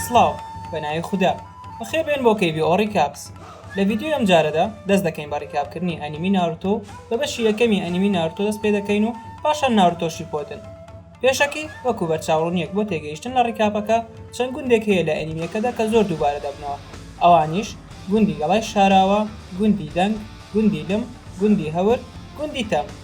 سڵاو بە ناوی خودا بەخێر بێن بۆ کەی بی ئۆ ڕیکاپس لە ڤیدیۆی ئەم جارەدا دەست دەکەین بە ڕیکاپ کردنی ئەنیمی ناروتۆ و بە بەشی یەکەمی ئەنیمی ناروتۆ دەست پێ دەکەین و پاشان ناروتۆ شیپۆدن پێشەکی وەکو بەرچاو ڕوونیەک بۆ تێگەیشتن لە ڕیکاپەکە چەند گوندێک هەیە لە ئەنیمیەکەدا کە زۆر دووبارە دەبنەوە ئەوانیش گوندی گەڵای شاراوە گوندی دەنگ گوندی لم گوندی هەور گوندی تەم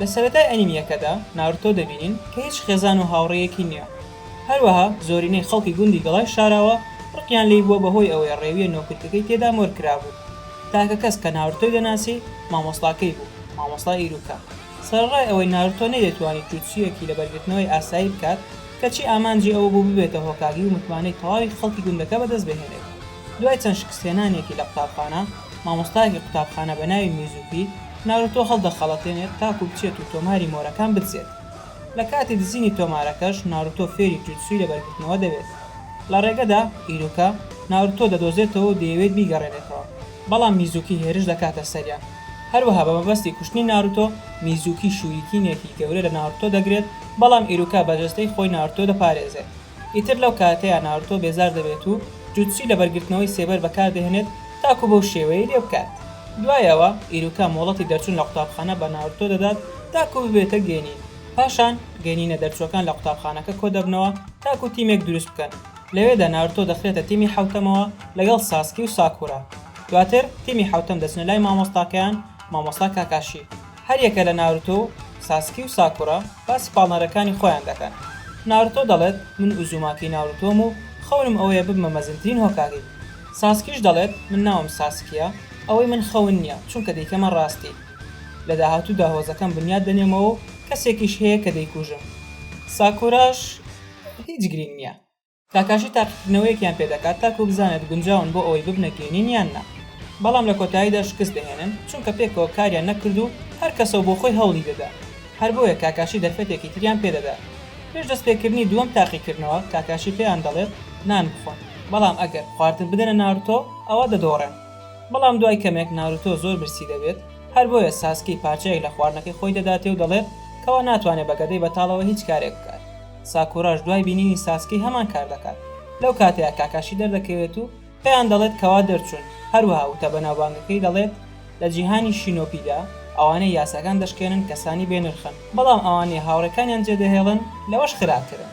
لە سەرەتای ئەنیمیەکەدا ناروتۆ دەبینین کە هیچ خێزان و هاوڕێیەکی نییە، هەروەها زۆرینەی خەڵکی گوندی گەڵای شاراوە ڕقیان لێی بووە بەهۆی ئەوەی ڕێویە نۆکرکەکەی تێدا مۆر کرابوو، تاکە کەس کە ناروتۆی دەناسی مامۆستاکەی بوو، مامۆستا ئیروکا، سەرەڕای ئەوەی ناروتۆ نەیدەتوانی جوتسویەکی لەبەرگرتنەوەی ئاسایی بکات کەچی ئامانجی ئەوە بوو ببێتە هۆکاگی و متمانەی تەواوی خەڵکی گوندەکە بەدەستبهێنێت دوای چەند شکستهێنانێکی لە قوتابخانە مامۆستایەکی قوتابخانە بە ناوی میزوکی ناروتۆ هەڵدەخەڵەتێنێت تاکو بچێت و تۆماری مۆرەکان بدزێت. لە کاتی دزینی تۆمارەکەش ناروتۆ فێری جوتسوی لەبەرگرتنەوە دەبێت. لە ڕێگەدا، ئیروکا، ناروتۆ دەدۆزێتەوە و دەیەوێت بیگەڕێنێتەوە، بەڵام میزوکی هێرش دەکاتە سەریان. هەروەها بە مەبەستی کوشتنی ناروتۆ، میزوکی شووریکینێکی گەورە لە ناروتۆ دەگرێت، بەڵام ئیروکا بە جەستەی خۆی ناروتۆ دەپارێزێت. ئیتر لەو کاتەیا نارۆتۆ بێزار دەبێت و جوتسوی لەبەرگرتنەوەی سێبەر بەکار دەهێنێت تاکو بەو شێوەیەی لێ بکات. دوای ئەوە ئیروکا مۆڵەتی دەرچون لە قوتابخانە بە نارۆتۆ دەدات تاکو ببێتە گێنین. پاشان گێنینە دەرچوەکان لە قوتابخانەکە کۆدەبنەوە تاکو تیمێک دروست بکەن. لەوێدا نارۆتۆ دەخرێتە تیمی حەوتەمەوە لەگەڵ ساسکی و ساکورا. دواتر تیمی حەوتەم دەچنە لای مامۆستاکەیان مامۆستا کاکاشی. هەریەکە لە ناروتۆ و ساسکی و ساکورا باسی پاڵنەرەکانی خۆیان دەکەن، ناروتۆ دەڵێت من ئوزوماکی ناروتۆم و خەونم ئەوەیە ببمە مەزنترین هۆکاگی، ساسکیش دەڵێت من ناوم ساسکییە، ئەوەی من خەون نییە، چونکە دەیکەمە ڕاستی. لە داهاتوودا هۆزەکەم بنیات دەنێمەوە و کەسێکیش هەیە کە دەیکوژم. ساکوراش هیچ گرینگ نییە، کاکاشی تاقیکردنەوەیەکیان پێ دەکات تاکوو بزانێت گونجاون بۆ ئەوەی ببنە گەینین یان نا، بەڵام لە کۆتاییدا شکست دەهێنن، چونکە پێکەوە کاریان نەکرد و هەر کەسەو بۆ خۆی هەوڵی دەدا. هەر بۆیە کاکاشی دەرفەتێکی تریان پێ دەدات. پێش دەستپێکردنی دووەم تاقیکردنەوە، کاکاشی پێیان دەڵێت نان بخۆن، بەڵام ئەگەر خواردن بدەنە ناروتۆ، ئەوا دەدۆڕێن. بەڵام دوای کەمێک ناروتۆ زۆر برسی دەبێت، هەر بۆیە ساسکی پارچەیەک لە خواردنەکەی خۆی دەداتێ و دەڵێت کەوا ناتوانێت بە گەدەی بەتاڵەوە هیچ کارێک بکات. ساکوراش دوای بینینی ساسکی هەمان کار دەکات، لەو کاتەیە کاکاشی دەردەکەوێت و پێیان دەڵێت کە وا دەرچوون، هەروەها وتە بەناوبانگەکەی دەڵێت لە جیهانی شینۆبیدا ئەوانەی یاساکان دەشکێنن کەسانی بێ نرخن، بەڵام ئەوانەی هاوڕێکانیان جێدەهێڵن لەوەش خراپترن.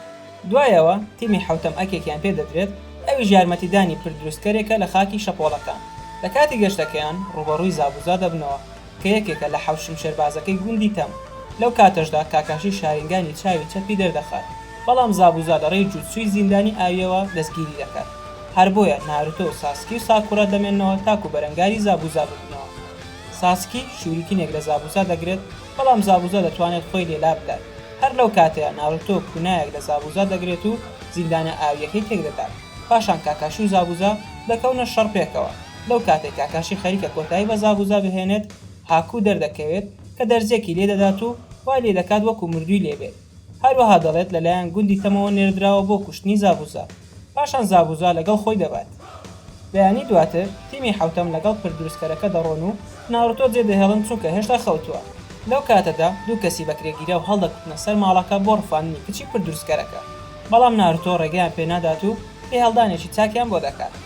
دوایەوە تیمی حەوتەم ئەکێکیان پێدەدرێت، ئەویش یارمەتیدانی پردروستکەرێکە لە خاکی شەپۆڵەکان، لە کاتی گەشتەکەیان ڕووبەڕووی زابوزا دەبنەوە، کە یەکێکە لە حەوت شمشێربازەکەی گوندی تەم، لەو کاتەشدا کاکاشی شارینگانی چاوی چەپی دەردەخات، بەڵام زابوزا لە ڕێی جوتسوی زیندانی ئاوییەوە دەستگیری دەکات، هەر بۆیە نارۆتۆ و ساسکی و ساکورا دەمێننەوە تاکو بەرەنگاری زابوزا ببنەوە، ساسکی شوریکینێک لە زابوزا دەگرێت، بەڵام زابوزا دەتوانێت خۆی لێ لابدات، هەر لەو کاتەیە نارۆتۆ کونایەک لە زابوزا دەگرێت و زیندانە ئاوییەکەی تێکدەدات، پاشان کاکاشی و زابوزا دەکەونە شەڕ پێکەوە. لەو کاتەی کاکاشی خەریکە کۆتایی بە زاڤ و زا بهێنێت، هاکو دەردەکەوێت کە دەرزیەکی لێ دەدات و وای لێ دەکات وەکو مردووی لێ بێت. هەروەها دەڵێت لە لایەن گوندی تەمەوە نێردراوە بۆ کوشتنی زاڤ و زا. پاشان زاڤ و زا لەگەڵ خۆی دەبات. بەیانی دواتر تیمی حەوتەم لەگەڵ پرد دروستکەرەکە دەڕۆن و ناروتۆ جێ دەهێڵن چونکە هێشتا خەوتووە. لەو کاتەدا دوو کەسی بەکرێگیراو هەڵدەکوتنە سەر ماڵەکە بۆ ڕفاندنی کچی پرد دروستکەرەکە. بەڵام ناروتۆ ڕێگەیان پێ نادات و لێهەڵدانێکی چاکیان بۆ دەکات.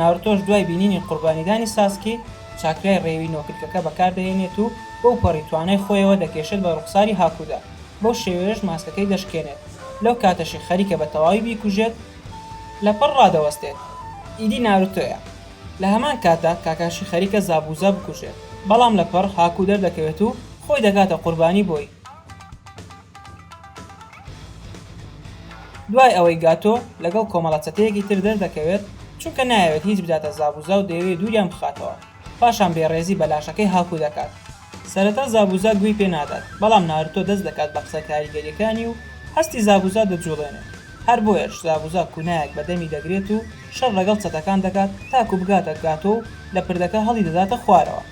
ناروتۆش دوای بینینی قوربانیدانی ساسکی، چاکرای ڕێوی نۆکلکەکە بەکاردەهێنێت و بەوپەڕی توانای خۆیەوە دەکێشێت بە ڕوخساری هاکودا، بەو شێوەیەش ماسکەکەی دەشکێنێت، لەو کاتەشی خەریکە بە تەواوی بیکوژێت، لەپڕ ڕادەوەستێت، ئیدی ناروتۆیە لە هەمان کاتدا کاکاشی خەریکە زابوزا بکوژێت، بەڵام لەپڕ هاکو دەردەکەوێت و خۆی دەکاتە قوربانی بۆی. دوای ئەوەی گاتۆ لەگەڵ کۆمەڵە چەتەیەکی تر دەردەکەوێت، چونکە نایەوێت هیچ بداتە زابوزا و دەیەوێت دووریان بخاتەوە، پاشان بێڕێزی بە لاشەکەی هاکو دەکات. سەرەتا زابوزا گوێی پێ نادات، بەڵام نارۆتۆ دەست دەکات بە قسە کاریگەریەکانی و هەستی زابوزا دەجوڵێنێت، هەر بۆیەش زابوزا کونایەک بە دەمی دەگرێت و شەر ڵەگەڵ چەتەکان دەکات تاکو بگاتە گاتۆ و لە پردەکە هەڵیدەداتە خوارەوە.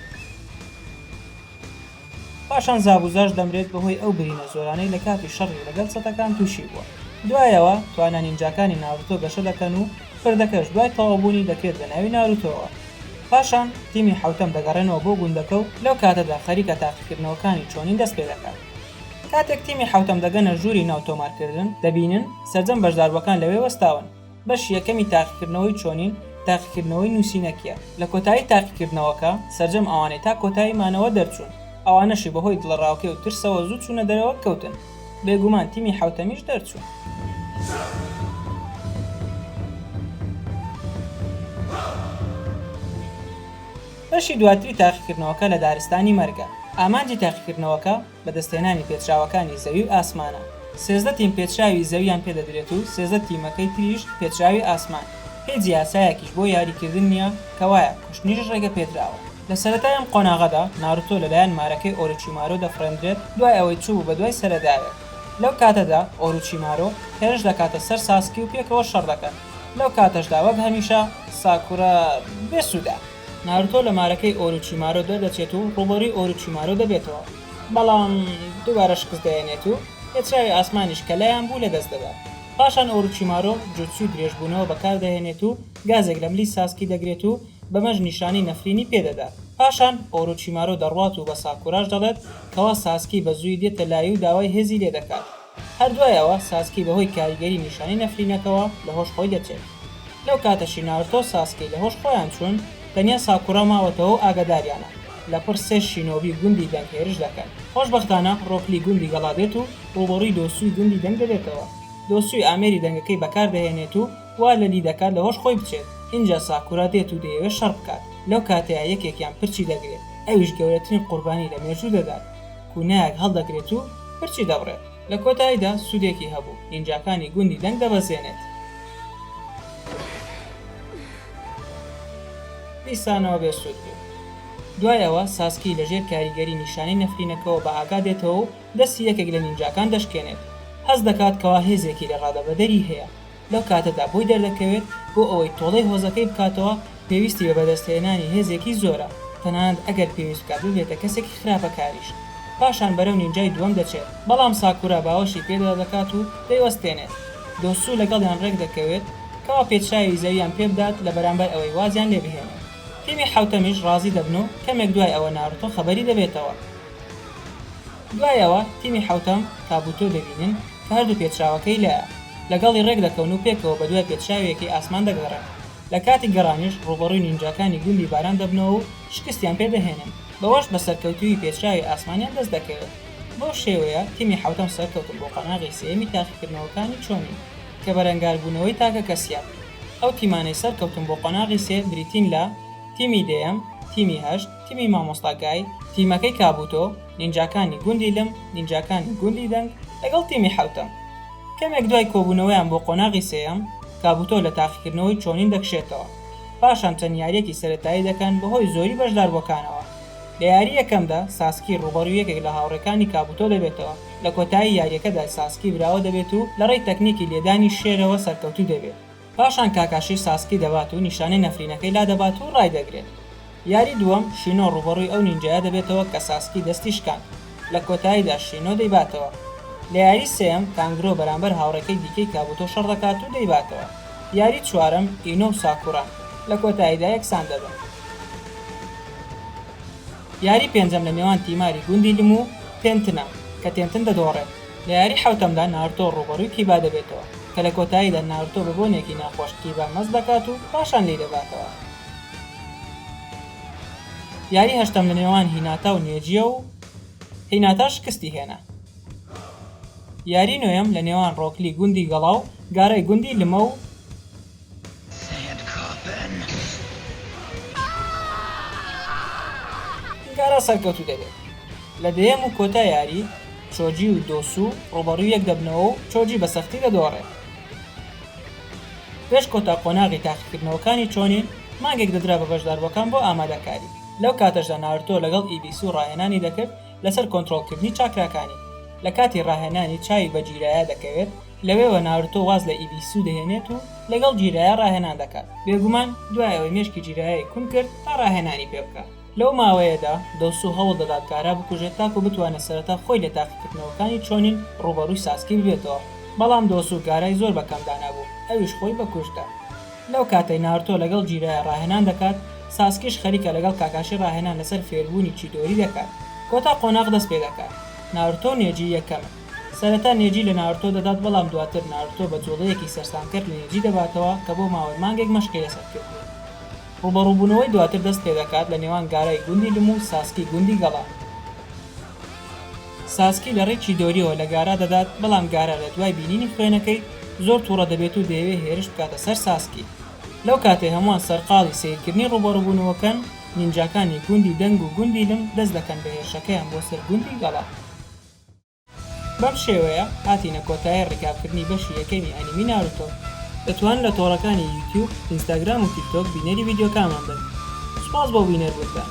پاشان زابوزاش دەمرێت بەهۆی ئەو برینە زۆرانەی لە کاتی شەڕی لەگەڵ سەتەکان تووشی بووە. دوایەوە توانا نینجاکانی ناروتۆ گەشە دەکەن و پردەکەش دوای تەواوبوونی دەکرێت بە ناوی ناروتۆوە. پاشان تیمی حەوتەم دەگەڕێنەوە بۆ گوندەکە و لەو کاتەدا خەریکە تاقیکردنەوەکانی چۆنین دەست پێ دەکات. کاتێک تیمی حەوتەم دەگەنە ژووری ناو تۆمارکردن، دەبینن سەرجەم بەشداربووەکان لەوێ وەستاون. بەشی یەکەمی تاقیکردنەوەی چۆنین، تاقیکردنەوەی نووسینەکییە. لە کۆتایی تاقیکردنەوەکە، سەرجەم ئەوانەی تا کۆتایی مانەوە دەرچوون، ئەوانەشی بەهۆی دڵەڕاوکێ و ترسەوە زوو چوونە دەرەوە، کەوتن. بێگومان تیمی حەوتەمیش دەرچوو. بەشی دواتری تاقیکردنەوەکە لە دارستانی مەرگە. ئامانجی تاقیکردنەوەکە، بەدەستهێنانی پێچراوەکانی زەوی و ئاسمانە، سێزدە تیم پێچراوی زەوییان پێدەدرێت و سێزدە تیمەکەی تریش پێچراوی ئاسمان، هیچ یاسایەکیش بۆ یاریکردن نییە، کەوایە کوشتنیش ڕێگەپێدراوە. لە سەرەتای ئەم قۆناغەدا، ناروتۆ لەلایەن مارەکەی ئۆروچیمارۆ دەفڕێندرێت، دوای ئەوەی چووبوو بە دوای سەرەداوێک، لەو کاتەدا ئۆروچیمارۆ هێرش دەکاتە سەر ساسکی و پێکەوە شەڕ دەکەن، لەو کاتەشدا وەک هەمیشە ساکورا بێسوودە. ناروتۆ لە مارەکەی ئۆروچیمارۆ دەردەچێت و ڕووبەڕووی ئۆروچیمارۆ دەبێتەوە، بەڵام دووبارە شکست دەهێنێت و پێچراوی ئاسمانیش کە لایان بوو لەدەست دەدات. پاشان ئۆروچیمارۆ جوتسوی درێژبوونەوە بەکاردەهێنێت و گازێک لە ملی ساسکی دەگرێت و بەمەش نیشانەی نەفرینی پێدەدات. پاشان ئۆروچیمارۆ دەڕوات و بە ساکوراش دەڵێت کەوا ساسکی بە زوویی دێتە لای و داوای هێزی لێدەکات. هەر دوای ئەوە ساسکی بەهۆی کاریگەری نیشانەی نەفرینەکەوە لە هۆش خۆی دەچێت. لەو کاتەشی نارۆتۆ و ساسکی لە هۆش خۆیان چوون، تەنیا ساکورا ماوەتەوە و ئاگاداریانە. لەپڕ سێ شینۆبی گوندی دەنگ هێرش دەکەن. خۆشبەختانە ڕۆک لی گوندی گەڵا دێت و ڕووبەڕووی دۆسووی گوندی دەنگ دەبێتەوە. دۆسووی ئامێری دەنگەکەی بەکار دەهێنێت و وا لەلی دەکات لە هۆش خۆی بچێت. ئینجا ساکورا دێت و دەیەوێت شەڕ بکات. لەو کاتەیە یەکێکیان پرچی دەگرێت. ئەویش گەورەترین قوربانی لە مێژوو دەدات. کونیاک هەڵدەگرێت و پرچی دەبڕێت. لە کۆتاییدا سوودێکی هەبوو، نینجاکانی گوندی دەنگ دەبەزێنێت. دیسانەوە بێ سوود بوو. دوای ئەوە ساسکی لە ژێر کاریگەری نیشانەی نەفرینەکەوە بە ئاگا دێتەوە و دەستی یەکێک لە نینجاکان دەشکێنێت. هەست دەکات کەوا هێزێکی لە ڕادەبەدەری هەیە. لەو کاتەدا بۆی دەردەکەوێت بۆ ئەوەی تۆڵەی هۆزەکەی بکاتەوە پێویستی بە بەدەستهێنانی هێزێکی زۆرە تەنانەت ئەگەر پێویست بکات ببێتە کەسێکی خراپەکاریش پاشان بەرەو نینجای دووەم دەچێت بەڵام ساکورا باوەشی پێدا دەکات و دەیوەستێنێت دۆسو لەگەڵیان ڕێکدەکەوێت کەوا پێچراوی زەویان پێبدات لە بەرامبەر ئەوەی وازیان لێبهێنێت تیمی حەوتەمیش ڕازی دەبن و کەمێک دوای ئەوە ناروتۆ خەبەری دەبێتەوە. دوای ئەوە تیمی حەوتەم تابوتۆ دەبینن کە هەردوو پێچراوەکەی لایە، لەگەڵی ڕێک دەکەون و پێکەوە بەدوای پێچراویەکەی ئاسمان دەگەڕێن، لە کاتی گەڕانیش ڕووبەڕووی نینجاکانی گوندی باران دەبنەوە و شکستیان پێ دەهێنن، بەوەش بە سەرکەوتوویی پێچراوی ئاسمانیان دەست دەکەوێت، بەو شێوەیە تیمی حەوتەم سەرکەوتن بۆ قۆناغی سێیەمی تاقیکردنەوەکانی چۆنین کە بەرەنگاربوونەوەی تاکە کەسییە، ئەو تیمانەی سەرکەوتن بۆ قۆناغی سێ بریتین لە، تیمی دەیەم، تیمی هەشت، تیمی مامۆستا گای، تیمەکەی کابوتۆ، نینجاکانی گوندی لم، نینجاکانی گوندی دەنگ لەگەڵ تیمی حەوتەم. کەمێک دوای کۆبوونەوەیان بۆ قۆناغی سێیەم، کابوتۆ لە تاقیکردنەوەی چۆنین دەکشێتەوە، پاشان چەند یارییەکی سەرەتایی دەکەن بەهۆی زۆری بەشداربووەکانەوە. لە یاری یەکەمدا، ساسکی ڕووبەڕووی یەکێک لە هاوڕێکانی کابوتۆ دەبێتەوە، لە کۆتایی یارییەکەدا ساسکی براوە دەبێت و لەڕێی تەکنیکی لێدانی شێرەوە سەرکەوتوو دەبێت. پاشان کاکاشی ساسکی دەبات و نیشانەی نەفرینەکەی لادەبات و ڕایدەگرێت. یاری دووەم، شینۆ ڕووبەڕووی ئەو نینجایە دەبێتەوە کە ساسکی دەستی شکاند. لە کۆتاییدا شینۆ دەیباتەوە. لە یاری سێیەم، کانگرۆ بەرامبەر هاوڕێکەی دیکەی کابوتۆ شەڕ دەکات و دەیباتەوە. یاری چوارەم، ئینۆ و ساکوران. لە کۆتاییدا یەکسان دەبن. یاری پێنجەم لە نێوان تیماری گوندی لم و تێنتنە، کە تێنتن دەدۆڕێت. لە یاری حەوتەمدا نارتۆ ڕووبەڕووی کیبا دەبێتەوە، کە لە کۆتاییدا نارتۆ بە بۆنێکی ناخۆش کیبا مەست دەکات و پاشان لێیدەباتەوە. یاری هەشتەم لە نێوان هیناتا و نێجیە و هیناتا شکستی هێنا. یاری نۆیەم لە نێوان ڕۆکلی گوندی گەڵا و گارای گوندی لمە و. گارا سەرکەوتوو دەبێت لە دەیەم و کۆتا یاری، چۆجی و دۆسو ڕووبەڕووی یەک دەبنەوە و چۆجی بە سەختی دەدۆڕێت. پێش کۆتا قۆناغی تاقیکردنەوەکانی چۆنین، مانگێک دەدرا بە بەشداربووەکان بۆ ئامادەکاری، لەو کاتەشدا نارتۆ لەگەڵ ئیبیسو ڕاهێنانی دەکرد لەسەر کۆنترۆڵکردنی چاکراکانی، لە کاتی ڕاهێنانی چاوی بە جیرایا دەکەوێت، لەوێوە نارۆتۆ واز لە ئیبیسو دەهێنێت و لەگەڵ جیرایا ڕاهێنان دەکات، بێگومان دوای ئەوەی مێشکی جیرایای کون کرد تا ڕاهێنانی پێ بکات. لەو ماوەیەدا دۆسو هەوڵ دەدات گارا بکوژێت تاکو بتوانێت سەرەتا خۆی لە تاقیکردنەوەکانی چۆنین ڕووبەڕووی ساسکی ببێتەوە، بەڵام دۆسو گارای زۆر بە کەم دانابوو ئەویش خۆی بە کوشت دا. لەو کاتەی نارتۆ لەگەڵ جیرایا ڕاهێنان دەکات، ساسکیش خەریکە لەگەڵ کاکاشی ڕاهێنان لەسەر فێربوونی چیدۆری دەکات. کۆتا قۆناغ دەست پێ دەکات. نارتۆ و نێجی یەکەمن. سەرەتا نێجی لە نارۆتۆ دەدات بەڵام دواتر نارۆتۆ بە جوڵەیەکی سەرسامکەر لە نێجی دەباتەوە کە بۆ ماوەی مانگێک مەشقی لەسەر کردووە. ڕووبەڕووبوونەوەی دواتر دەست پێدەکات لە نێوان گارای گوندی لم و ساسکی گوندی گەڵا. ساسکی لە ڕێی چیدۆریەوە لە گارا دەدات بەڵام گارا لە دوای بینینی خوێنەکەی زۆر توڕە دەبێت و دەیەوێت هێرش بکاتە سەر ساسکی. لەو کاتەی هەمووان سەرقاڵی سەیرکردنی ڕووبەڕووبوونەوەکەن، نینجاکانی گوندی دەنگ و گوندی لم دەست دەکەن بە هێرشەکەیان بۆ سەر گوندی گەڵا. بەم شێوەیە هاتینە کۆتایی ڕیکابکردنی بەشی یەکەمی ئەنیمی ناروتۆ. دەتوان لە تۆڕەکانی یوتیوب، ئینستاگرام و تیکتۆک بینەری ڤیدیۆکانمان بن. سوپاس بۆ بینەربوونتان.